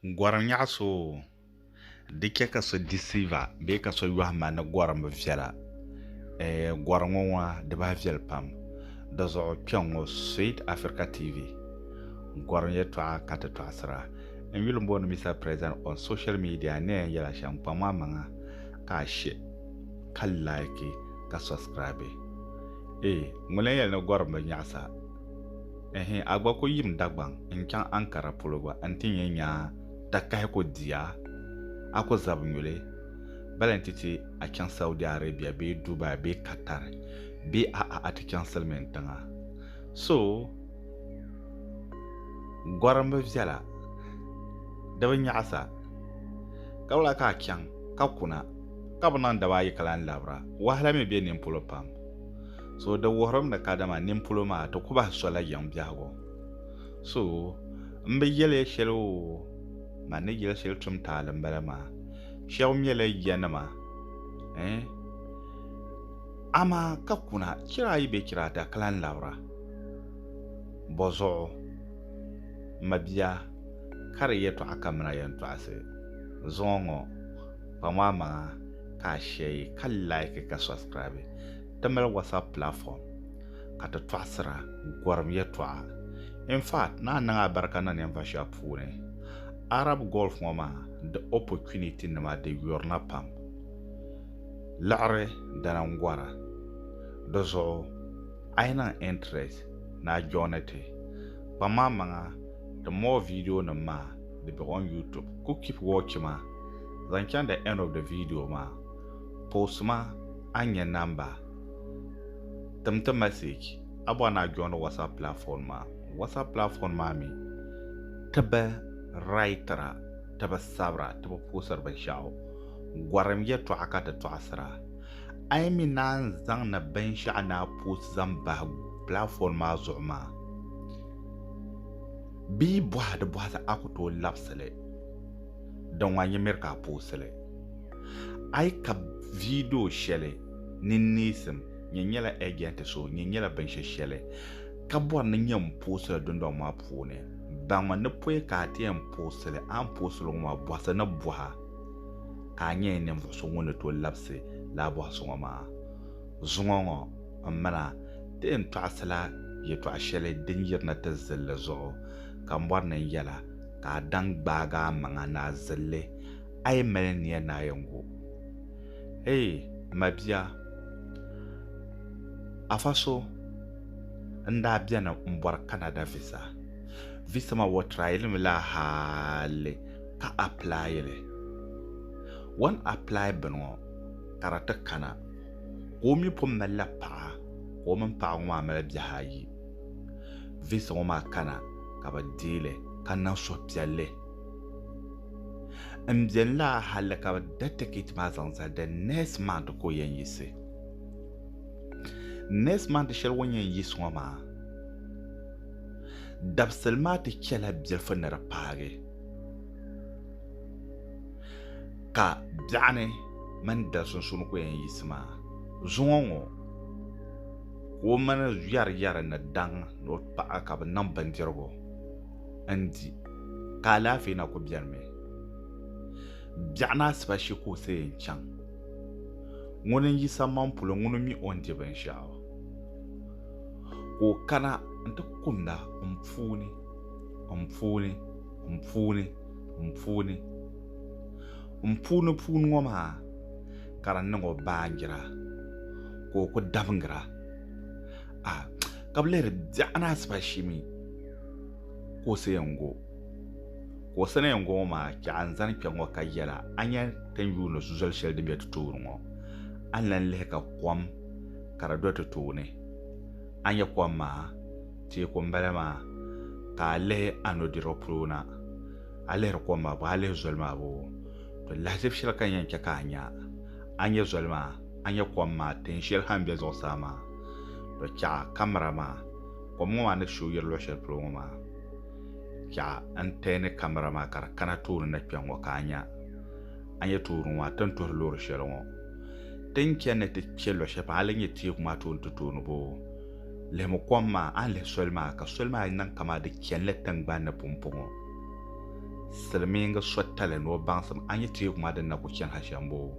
Gɔrim nyaɣi so o di chɛ ka so deceiver bee ka so yɔhi ma ni gɔrim bi viɛla eh, gɔrim ŋɔ ŋɔ di bahi viɛli pam di zuɣu kpɛŋ ŋɔ Sweet Africa TV gɔrim yɛtɔɣa ka ti tɔɣisira n yuli booni Mister President on social media ni yɛn yɛla shɛm kpaŋ maa maŋa ka a she ka like ka subscribe eh ŋuni n yɛli ni gɔrim bi nyaɣisa Ɛhɛn, a gba ku yim Dagbaŋ n-chaŋ Ankara polo gba nti nyɛ nyaa takahi ku di a, a ku zab nyuli. Bala nti ti a chaŋ Saudi Arabia bee Dubai bee Qatar bee a'a a ti chaŋ silimin tiŋa. So gɔrimbu viɛla di bi nyaɣisa ka wula ka a chaŋ ka kuna ka bi niŋ daba ayi ka lan labira. Wahala mi be nini polo pam. so di wuhirimi ni kadama ninpolo maa ti ku bahi sola yiŋ biɛhigu so m bi yɛli ya shɛli o man ni yɛli shɛli tum taali m-bala maa shɛba mɛla yanima eh amaa ka kuna chira ayi bee chira ata ka lan labira bɔzuɣu mabia ka di yɛtɔɣa kamina yɛntɔɣisi zuŋɔ ŋɔ kpaŋɔ amaŋa ka a shɛyi ka laiki ka subscribe ti mali WhatsApp platform ka ti tɔɣisira gɔrim yɛtɔɣa. In fact, naa niŋ a barika na ninvuɣ shɛba puuni. Arab Gulf ŋɔ maa di opportunity nima di yurina pam. Liɣiri dini n-gɔra. Di zuɣu a yi niŋ interest ni a joini ti. Kpaŋmaŋmaŋa the more video nim maa di be on YouTube. Ku keep watching ma zaŋ chaŋ the end of the video maa. Post-ma a nyɛ namba, tim ti message a bɔri ni a joini WhatsApp platform maa. WhatsApp platform maa mi ti bi writera, ti bi sabira, ti bi poostiri binshɛɣu. Gɔrim yɛtɔɣa ka ti tɔɣisira. A yi mi naan zaŋ ni binshɛɣu ni a post zaŋ bahi platform maa zuɣu maa bee bɔhidibɔhisi a ku tooi labisi li, din wan yi miri ka a posti li. A yi kab vidio shɛli ni neesim Nyɛ Nyɛla Ɛjɛnti So, Nyɛ Nyɛla Binshɛ Shɛli ka bɔri ni nyɛ m-poosiri dundɔŋ maa puuni. Baŋmi ni pɔi ka a ti yɛn poosiri li, a ni poosiri li ŋɔ maa bɔhisi ni bɔha ka a nyɛla ninvuɣ so ŋun ni tooi labisi lala bɔhisi ŋɔ maa. Zuŋɔ ŋɔ, m mina, ti yɛn tɔɣisila yɛtɔɣ shɛli din yirina ti zilli zuɣu ka m bɔri ni n yɛla ka a daŋ gbaag amaŋa ni a zilli. a yi mali nia naayingu. Eei mabia, afa so n-daa beni m-bɔri Canada visa. Visa maa o tryili mi la hali ka apply li. O ni apply bini ŋɔ ka di ti kana ka o mi pun mali la paɣa ka o mini paɣa ŋɔ maa mali bihi ayi. Visa ŋɔ maa kana ka bɛ deei li ka niŋ suhupiɛlli. n biɛni la hali ka bi da tikit maa zaŋ zali the next month ka o yɛn yiɣisi next month shɛli o ni yɛn yiɣisi ŋɔ maa dabisili maa ti chɛla bilifu ni di paagi ka biɛɣuni mini dali sunsuuni ku yɛn yiɣisi maa zuŋɔ ŋɔ ka o mini yɛri yɛri ni daŋ ni o paɣa ka bi niŋ bindirigu n-di, ka alaafee na ku benimi. Biɛɣu ni asiba shi ka o ti yɛn chaŋ. Ŋuni n-yi sammaŋ polo ŋuni mi o ni di binshɛɣu, ka o kana nti kumda m puuni, m puuni, m puuni, m puuni. M puuni puuni ŋɔ maa ka di niŋ o baanjira, ka o ku dabingira. A, ka bi lihiri biɛɣu ni asiba shi mi. kuɣusi yɛn gu kuɣusi ni yɛn gu ŋɔ maa chɛ a ni zani kpɛŋ ŋɔ ka yɛla a ni yɛn ti ni yuuni zoli shɛli din be ti tooni ŋɔ a ni lan lihi ka kom ka di do ti tooni a ni nya kom maa teeku m-bala maa ka a lihi a nudirigu polo na a lihiri kom maa bɔɔ a lihi zoli maa bɔɔ to lahiʒibu shɛli ka n yɛn chɛ ka a nya a nya zoli maa a nya kom maa teen shɛli ha m-be zuɣusaa maa to chɛ a kamara maa Kom ŋɔ maa ni shoo yiri luɣi shɛli polo ŋɔ maa, yaɣa n tɛɛ ni kamara maa ka di kana tooni na kpɛŋ ŋɔ ka a nya. A ni yɛn tooi wuri ŋɔ maa, ti ni tuhiri loori shɛli ŋɔ. Ti ni chani ni ti kpe luɣi shɛli pam, a ni nya teeku maa tooni ti tooi ni boo. Lihimi kom maa, a ni lihi soli maa, ka soli maa niŋ kaman di chani la tiŋgbani ni pumpɔŋɔ. Silimiingi so tali ni o baŋsim a nya teeku maa din na ku chani ha shɛm boo.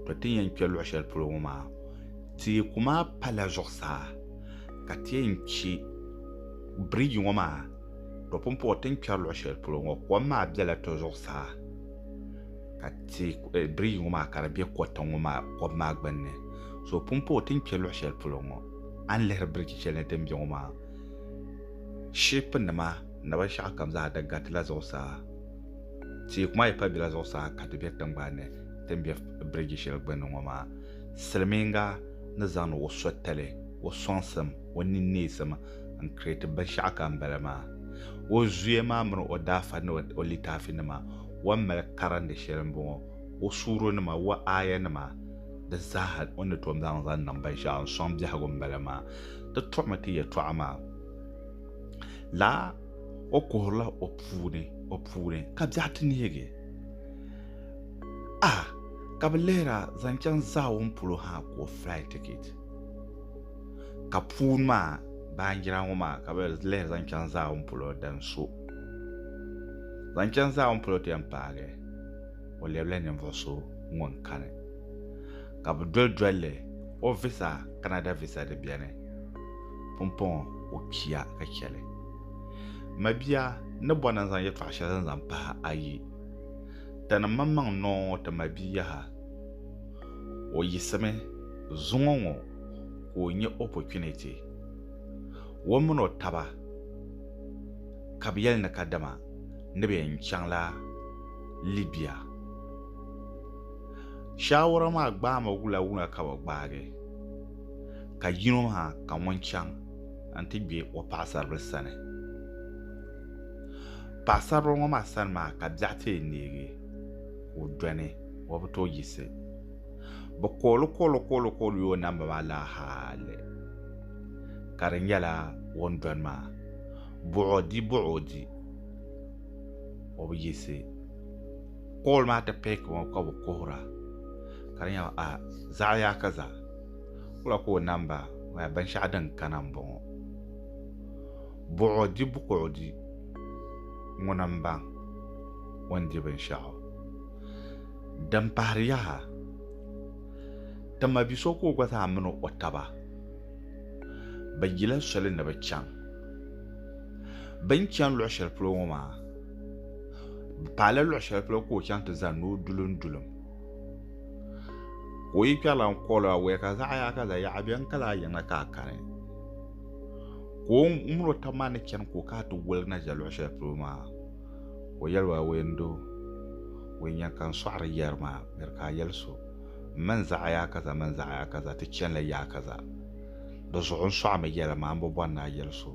To ti ni yɛn kpe luɣi shɛli polo ŋɔ maa, teeku maa pala zuɣusaa. ka ti yɛn chɛ biriji ŋɔ maa di pun puhi ti ni kpɛri luɣ shɛli polo ŋɔ kom maa bela ti zuɣusaa ka biriji ŋɔ maa ka di be kɔtiŋ ŋɔ maa kom maa gbunni so di pun puhi ti ni kpe luɣ shɛli polo ŋɔ a ni lihiri biriji shɛli ni din be ŋɔ maa shipunima ni binshɛɣu kam zaa di garitila zuɣusaa teeku maa yi pa bela zuɣusaa ka di be tiŋgbani ni din be biriji shɛli gbunni ŋɔ maa silimiiŋa ni zaŋdi o soli tali O sɔŋsim, o ninneesim, n-kiri ti binshɛɣu ka n bala maa. O zuya maa mini o daafa ni o litaafinima wan mali karindi shɛli m-bɔŋɔ, o suuronima, o aayanima, di zaaha o ni tom zaŋ zaŋ niŋ binshɛɣu n-sɔŋ biɛhigu m-bala maa. Di tuɣimi ti yɛtɔɣa maa la, O kuhirila o puuni, o puuni, ka biɛɣu ti neegi a ka bɛ lihira zaŋ chaŋ Zawɔn polo ha ka o fly ticket. ka puuni maa baanjira ŋɔ maa ka bɛ lihiri zaŋ chaŋ Zaawun polo din so. Zaŋ chaŋ Zaawun polo ti yɛn paagi o lɛbila ninvuɣ so ŋun kani, ka bɛ doli doli li o visa Canada visa di beni pumpɔŋɔ o kpiya ka chɛ li. Mabia n ni bɔri ni n zaŋ yɛtɔɣ shɛli din zaŋ pahi a yi, Tani m-maŋmaŋ noo ŋɔ ti mabia yaha. O yiɣisimi zuŋɔ ŋɔ ka o nya opportunity. O min o taba ka bɛ yɛli ni kadama ni bɛ yɛn chaŋla Libya. Shaawara maa gbaami wula wula ka bɛ gbaagi ka yino maa ka ŋun chaŋ n-ti gbe o paɣisaribila sani. Paɣisaribila ŋɔ maa sani maa ka biɛɣu ti yi neegi. ka o dɔni o bi tooi yiɣisi. Bɛ kooli kooli kooli kooli o namba maa laa hali ka di nyɛla o ni dɔni maa buɣi o di buɣi o di o bi yiɣisi kooli maa ti pick ŋɔ ka bɛ kuhira ka di nyɛba a zaɣi yaa ka za wula ka o namba maa binshɛɣu din kana m-bɔŋɔ. Buɣudi buɣudi ŋuna m-baŋ o ni di binshɛɣu. Din pahiri yaha, ti ma bi so ka o gba zaa mini o taba bɛ yila soli ni bɛ chaŋ. Bɛ ni chani luɣ shɛli polo ŋɔ maa, bɛ paala luɣ shɛli polo ka o chaŋ ti zani ni o dulimdulim. Ka o yi kpɛrila n-kɔɔl o, Awɛɛ ka zaɣ yaha ka zayaɣa beni ka lahi yiŋa ka a kani? ka o ŋun o tabi maa ni chani ka o kana ti woligi na ʒe luɣ shɛli polo maa ka o yɛli ba, Weendo, weenyɛŋ ka n sɔɣiri yɛri maa, bɛri ka a yɛli so, M mi n zaɣi yaa kaza mini zaɣi yaa kaza ti chani la yaa kaza. Di zuɣu n sɔɣimi yɛli maa, m bi bɔri ni a yɛli so.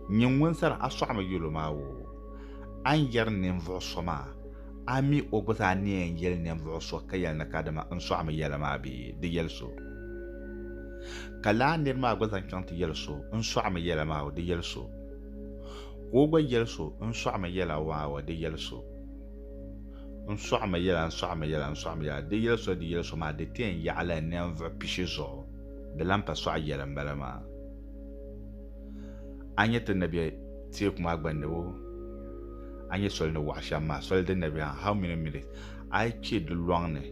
Nyin ŋun sani a sɔɣimi yɛl o maa woo, a ni yɛri ninvuɣ so maa, A mi o gba zaa ni yɛn yɛli ninvuɣ so ka yɛli ni kadama n sɔɣimi yɛla maa bee? Di yɛli so. Ka lala nir maa gba zaŋ chaŋ ti yɛli so n sɔɣimi yɛla maa o? Di yɛli so. Ka o gba yɛli so n sɔɣimi yɛla maa o? Di yɛli so. N sɔɣimi yɛla, n sɔɣimi yɛla, n sɔɣimi yɛla. Di yɛli so, di yɛli so maa di ti yɛn yaɣila ninvuɣ pishi zuɣu. Di lan pa sɔɣi yɛli m-bala maa. A nya ti ni be teeku maa gbandi wo, a nya soli ni waɣa shɛm maa, soli din na be ha, how many minutes? A yi kpe di lɔŋ ni,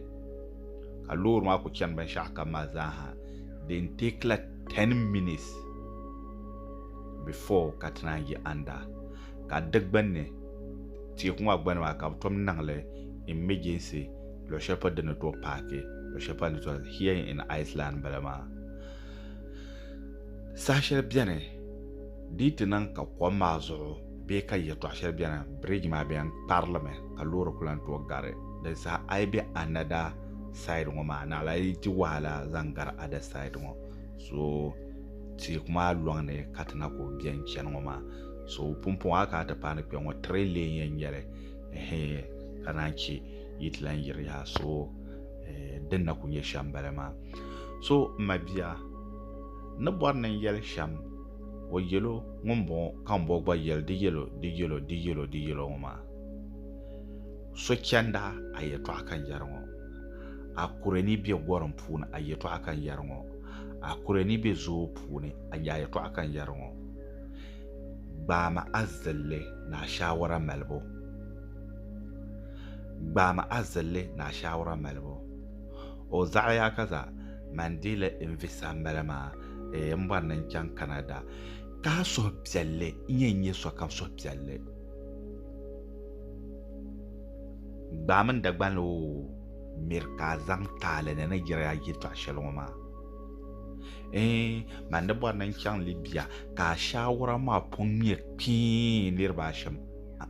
ka loori maa ku chani binshɛɣu kam maa zaa ha, din teekila ten minutes before ka ti naan yi anda. Ka di gbunni, teeku maa gbunni maa, ka bɛ tom niŋ li emergency luɣ shɛli polo di ni tooi paaki, luɣ shɛli polo di ni tooi, here in Iceland m-bala maa. Saha shɛli beni di yi ti niŋ ka kom maa zuɣu bee ka yɛltɔɣa shɛli beni bridge maa bɛn kpari li mi ka loori ku lan tooi gari di saha a yi be another side ŋɔ maa naɣila yi di wahala zaŋ gari other side ŋɔ so teeku maa lɔŋ ni ka ti na ku bɛn chani ŋɔ maa so pumpɔŋɔ a kana ti paai ni kpɛŋɔ three lane yɛn nyɛli ɛhɛɛ ka naan che yi ti lan yiri yaha so eh, din na ku nyɛ shɛm bala maa so m ma bia ni bɔri ni n yɛli shɛm o yɛlo ŋun bɔŋɔ ka n bɔ gba yɛli di yɛlo di yɛlo di yɛlo di yɛlo ŋɔ maa so chɛnda a yɛtɔɣa ka n yɛri ŋɔ a kure ni bɛ gɔrim puuni a yɛtɔɣa ka n yɛri ŋɔ a kure ni bɛ zoo puuni a yɛtɔɣa ka n yɛri ŋɔ gbaami a zilli ni a shaawara malibu gbaami a zilli ni a shaawara malibu O zaɣiya ka za man di li n vi sambali maa eeh m bɔri ni n chaŋ Canada ka a suhi piɛlli n yɛn nyɛ sokam suhi piɛlli gbaai mini Dagbanli o miri ka a zaŋ taali ni ni yiri a yɛltɔɣa shɛli ŋɔ maa eeh man di bɔri ni n chaŋ Libya ka a shaawara maa pun ŋmɛ kpii niriba ashɛm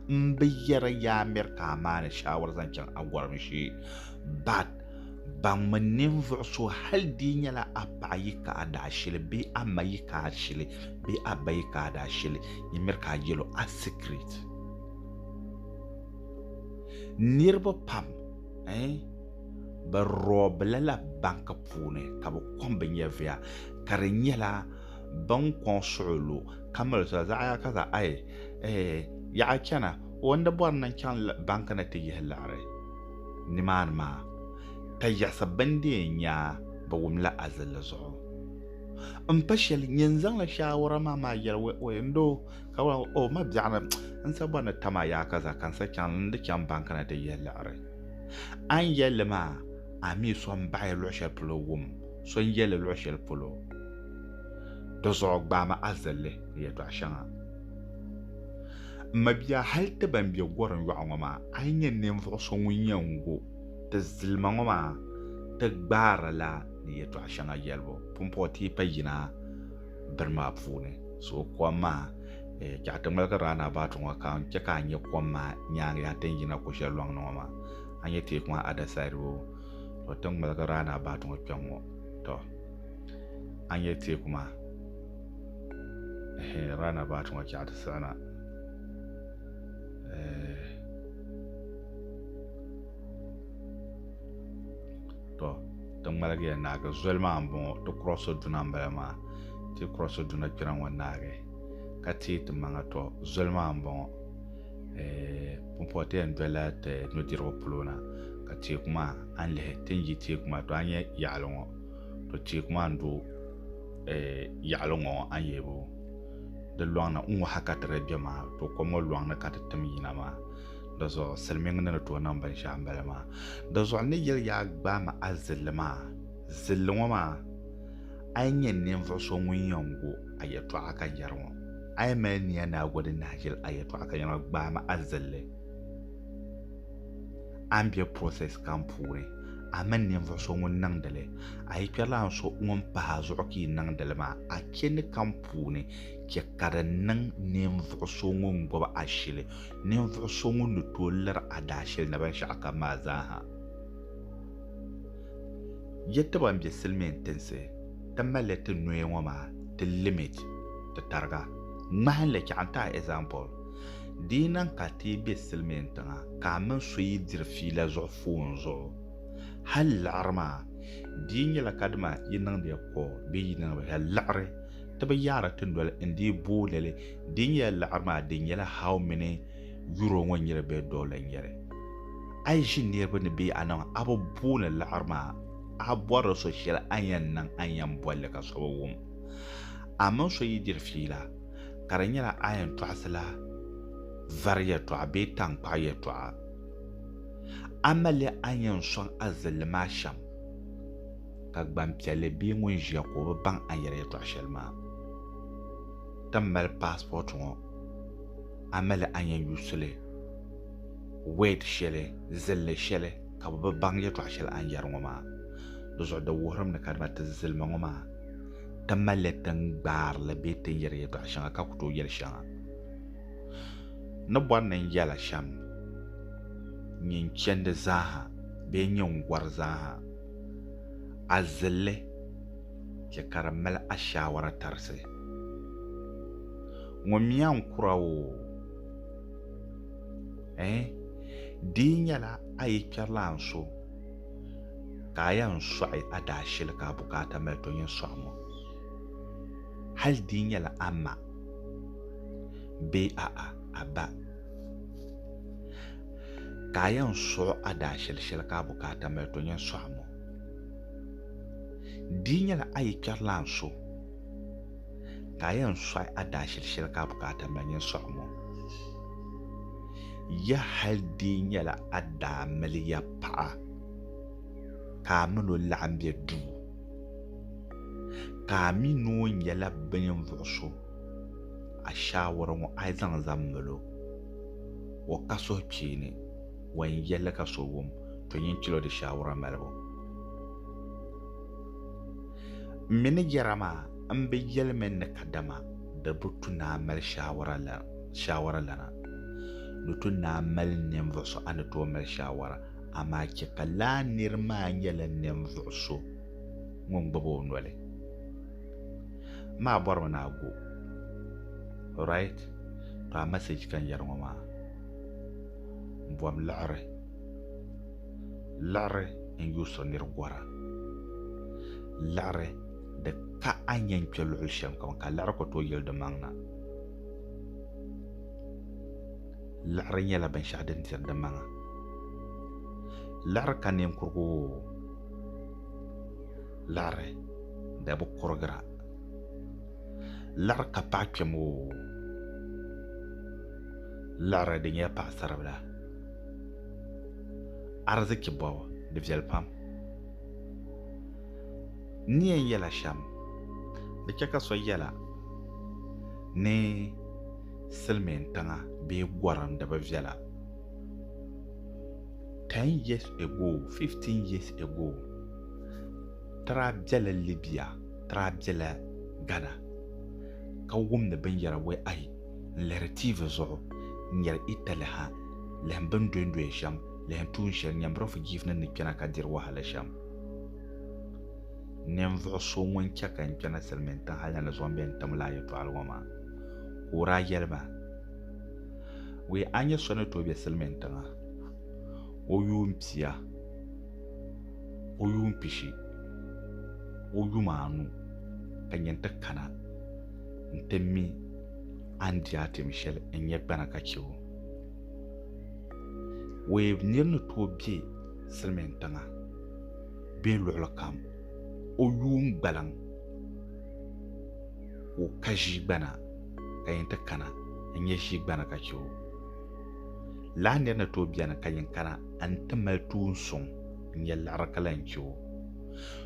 m bi yɛri ya a miri ka a maani shaawara zaŋ chaŋ a gɔrim shee But, baŋmi ninvuɣ so hal di nyɛla a paɣ yi ka a daashili bee a ma yi ka a shili bee a ba yi ka a daashili, yi miri ka a yɛl o a secret. Niriba pam eh, bɛ rɔbila la bank puuni ka bɛ kɔŋ bɛ nyɛviya, ka di nyɛla bɛ ni kɔŋ suɣulo ka mali soli zaɣ ya ka za ai eh, yaɣa chana, o ni bɔri ni n-chaŋ bank ni ti yihi liɣiri. nimaani maa, ka yiɣisi bindee nyaa bi wum la azilli zuɣu. M pa shɛli, nyin zaŋla shaawara maa maa yɛli wɛ ɔye n doo, ka wala ŋɔ, O mabiɛɣuni, n sa bɔri ni tam a yaaka zaa, ka n sa chaŋ n di chaŋ bankana di yihi liɣiri. A ni yɛli li maa, a mi so n baɣi luɣ shɛli polo wum so n yɛli luɣ shɛli polo. Di zuɣu gbaami azilli ni yɛtɔɣ shɛŋa. M mabia hali ti ban be gɔrim yɔɣu ŋɔ maa, a yi nya ninvuɣ so ŋun yɛn gu ti zilima ŋɔ maa, ti gbaari la ni yɛtɔɣ shɛŋa yɛlibu pumpɔŋɔ ti yi pa yina bini maa puuni. So kom maa, eh, chɛɣu ti ŋmaligi round-about ŋɔ ka n chɛ ka a nya kom maa nyaaŋa yaha ti ni yina ko shɛli lɔŋ ni ŋɔ maa. A nya teeku maa other side boo? Tɔ, ti ŋmaligi round-about ŋɔ kpɛŋ ŋɔ, tɔ, a nya teeku maa. eh, runabout ŋɔ chɛɣu ti siɣina eh, to ti ŋmaligiya naagi zoli maa n bɔŋɔ ti kurɔsi duna n bala maa ti kurɔsi duna kpɛra ŋɔ naagi ka teei ti maŋa to zoli maa n bɔŋɔ eh, pumpɔti yɛn dola ti nudirigu polo na ka teeku maa a ni lihi ti ni yi teeku maa to a nyɛ yaɣali ŋɔ to teeku maa n do eh, yaɣali ŋɔ a ni yebu di lɔŋni n ŋɔ ha ka ti lee bɛ maa to kom ŋɔ lɔŋni ka ti tim yina maa di zuɣu silimiŋ ni ni tooi niŋ binshɛɣu n bala maa di zuɣu ni yɛli yaa gbaai ma a zilli maa zilli ŋɔ maa a yi nyɛ ninvuɣ so ŋun yɛn go a yɛtɔɣa ka yɛri ŋɔ a yi mali nia ni a go din nahi ʒili a yɛtɔɣa ka yɛri ŋɔ gbaai ma a zilli a ni bɛ process kam puuni a mini ninvuɣu so ŋun niŋdili a yi kpɛrila n so ŋun pahi a zuɣu ka yi niŋdili maa a chɛ ni kam puuni chɛ ka di niŋ ninvuɣu so ŋun gbubi a shili ninvuɣu so ŋun ni tooi liri a daashili ni binshɛɣu kam maa zaaha yɛ ti ban bɛ silmiin tinsi ti malli ti noya ŋɔ maa ti limit ti tariga ŋmahinli chaŋ n ti a example Di yi niŋ ka a teei be silimiin tiŋa ka a mini so yi diri fiila zuɣu foon zuɣu hal liɣiri maa, di yi nyɛla kadama yi niŋdiya kɔɔ bee yi niŋ hal liɣiri, ti bi yaari ti noli n-dii booni li. Di yi nyɛla liɣiri maa di nyɛla how many euro ŋɔ n-nyɛ li bee dollar n-nyɛ li. A yi ʒi niriba ni bee a niŋ a bi booni liɣiri maa, a bɔrila so shɛli a ni yɛn niŋ a ni yɛn boli li ka so bi wum. A mini so yi diri fiila. ka di nyɛla a yɛn tɔɣisila vari yɛtɔɣa bee taŋkpaɣu yɛtɔɣa. A mali a ni yɛn sɔŋ a zilli maa shɛm, ka gbanpiɛlli bee ŋun ʒiya ka o bi baŋ a ni yɛri yɛtɔɣ shɛli maa ti mali paasipɔti ŋɔ, a mali a ni yɛn yuusi li word shɛli, zilli shɛli ka bɛ bi baŋ yɛtɔɣ shɛli a ni yɛri ŋɔ maa. Di zuɣu di wuhirimi ni kadama ti zilima ŋɔ maa. ti malila ti ni gbaari li bee ti ni yɛri yɛtɔɣ shɛŋa ka ku tooi yɛli shɛŋa. N ni bɔri ni n yɛla shɛm n-nyɛ n chɛndi zaaha bee n-nyɛ n gɔri zaaha, a zilli chɛ ka di mali ashaawara tarisi. Ŋunmiya n-kura oo, ɛɛn, di yi nyɛla a yi kpɛrilana so, ka a yɛn sɔɣi a daa shili ka a bukaata mali to nyin sɔɣi ŋɔ, hal di yi nyɛla a ma bee a'a a ba, ka a yɛn sɔɣi a daa shili shɛli ka a bukaata mali to nyin sɔɣi ŋɔ, di yi nyɛla a yi kpɛrilana so, ka a yɛn sɔɣi a daashili shɛli ka a bukaata mali nyin sɔɣi ŋɔ. Ya hal dii nyɛla a daa mali ya paɣa ka a min o laɣim be duu, ka a mi ni o nyɛla bɛ ninvuɣ so, a shaawara ŋɔ a zaŋ zaŋ mal o. O ka suhukpeeni wan yɛl li ka so wum, to nyin chɛl o di shaawara malibu. M mi ni yɛra maa m-bi yɛli mi ni kadama di bi tu ni a mali shaawara lana. Di tu ni a mali ninvuɣ so a ni tooi mali shaawara, amaa chɛ ka lala nir maa nyɛla ninvuɣ so ŋun gbibi o noli. Maa bɔrimi ni a go. Right? Tɔ a message ka n yɛri ŋɔ maa. M bom liɣiri. Laɣiri n yo so nir gɔra. Laɣiri di ka a ni yɛn kpe luɣili shɛm kam ka laɣiri ku tooi yili di maŋ na. Laɣiri nyɛla binshɛɣu din diri di maŋa. Laɣiri ka ninkurigu o. Laɣiri di bi kurigira. Laɣiri ka paɣa kpɛm o. Laɣiri di nyɛla paɣisaribila. Ariziki bɔbu, di viɛli pam. N ni yɛn yɛla shɛm, di chɛ ka so yɛla ni silimiin tiŋa bee gɔrim di bi viɛla. Ten years ago, fifteen years ago, ti daa bela Libya, ti daa bela Ghana ka wumdi binyɛra wɛ ayi. n lihiri tiivi zuɣu n nyari Itali ha lihim bɛ ni dondoya shɛm lihim tuun shɛli nyambirɔfu jiifinin ni kpɛna ka diri wahala shɛm. Ninvuɣ so ŋun chɛ ka n kpɛna silimiintiŋ hal ni di zuɣu m-be n tim laa yɛtɔɣili ŋɔ maa, ka o daa yɛli ma, Wee a nya so ni tooi be silimiintiŋa, o yuun pia, o yuun pishi, o yuma anu ka nyin ti kana. nti mi a ni di a tim shɛli n-nyɛ gbana ka chɛ o. Weeb nir ni tooi be Silimin Tiŋa bee luɣili kam, o yuun gbaliŋ o ka ʒii gbana ka yin ti kana n-nyɛ ʒii gbana ka chɛ o. Lala nir ni tooi beni ka yin kana n-ti mali tuun suŋ n-nyɛ liɣiri ka lahi chɛ o.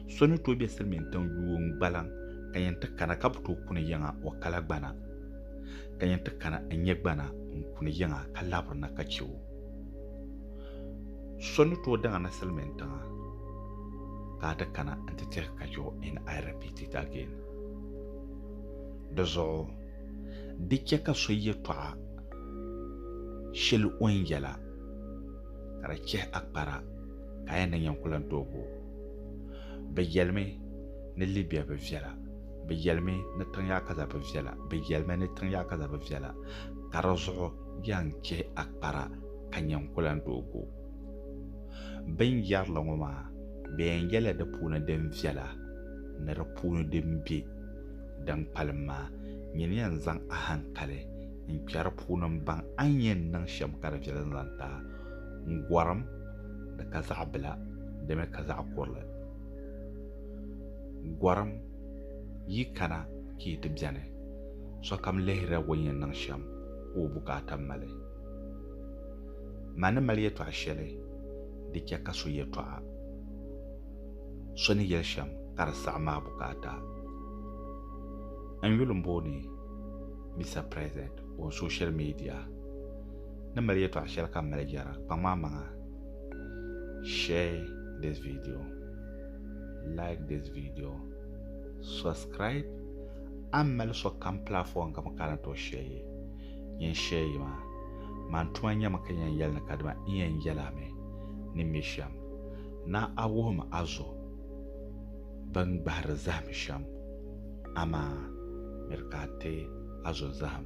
So ni tooi be Silimin Tiŋ yuun gbaliŋ ka yɛn ti kana ka bi tooi kuni yiŋa o kala gbana, ka yɛn ti kana n-nyɛ gbana n-kuni yiŋa ka labiri na ka chɛ o. So ni tooi daŋ na silimin tiŋa ka a ti kana n-ti tɛhi ka chɛ o in I repeat it again. Di zuɣu di chɛ ka so yɛtɔɣa shɛli o ni yɛla ka di chɛhi a kpara ka a yɛn na yɛn ku lan tooi bo o. Bɛ yɛlimi. ni Libya bi viɛla bi yɛlimi ni tiŋ yaa kaza bi viɛla bi yɛlimi ni tiŋ yaa kaza bi viɛla ka di zuɣu yan chɛ a kpara ka nyɛ n kulan doo go bin yɛrili ŋɔ maa bɛ yan yɛla di puuni din viɛla ni di puuni din be din kpalim maa nyini yan zaŋ a hankali n kpɛ di puuni n baŋ a ni yɛn niŋ shɛm ka di viɛli n zaŋ ti a n gɔrim di ka zaɣ bila dimi ka zaɣ kurili Gɔrim, yi kana ka yi ti beni, sokam lihirila ŋun yɛn niŋ shɛm ka o bukaata mali. Mani mali yɛtɔɣ shɛli di chɛ ka so yɛtɔɣa, so ni yɛli shɛm ka di saɣim maa bukaata. N yuli m-booni Mister President on social media ni mali yɛtɔɣ shɛli ka m mali yɛra, kpaŋm a maŋa. share this video like this video subscribe an mali so kam platform ka bin kana to share yi yin share yi maa man tuma nyɛmi ka yɛn yɛli ni ka dima n yɛn yɛla mi ni mi shɛm na a wuhim a zo bin gbahiri zahim shɛm amaa miri ka a ti a zo zahim